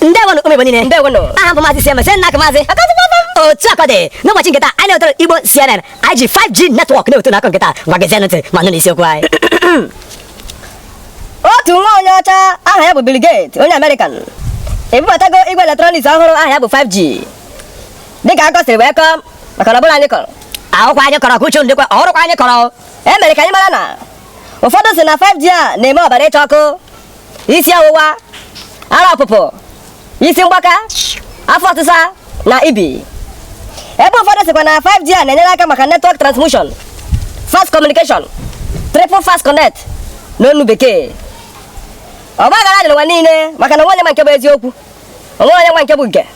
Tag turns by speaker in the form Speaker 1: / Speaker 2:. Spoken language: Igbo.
Speaker 1: ndewonụ ụmụ Igbo niile ndewonụ aha m bụ maazị Sieme Senna Akụmaazị otu aka dị n'ụbọchị nke taa anyị na-ewetara Igbo CNN anyị ji 5G network na-ewetara unu akụkọ nke taa ngwa gee ntị ma nụ n'isiokwu anyị
Speaker 2: otu nwa onye ọcha aha ya bụ Bill Gates onye American ebubatago igwe electronics ọhụrụ aha ya bụ 5G dịka akụkọ siri wee kọọ maka na ọbụla anyị kọrọ akụkọ anyị kọrọ ka
Speaker 1: uche ndịkwa ọrụkwa anyị kọrọ e mere ka anyị mara na
Speaker 2: ụfọdụ sị na 5G a na-eme ọbara ịcha ọkụ isi ọwụwa ara ọpụpụ isi mgbaka afọ ọsịsa na ibi ebe ụfọdụ sịkwa na 5G a na-enyere aka maka network transmission fast communication triple fast connect n'ọnụ bekee ọgbaghara dị n'ụwa niile maka na o nwee onye ma nke bụ eziokwu o nwee onye ma nke bụ nke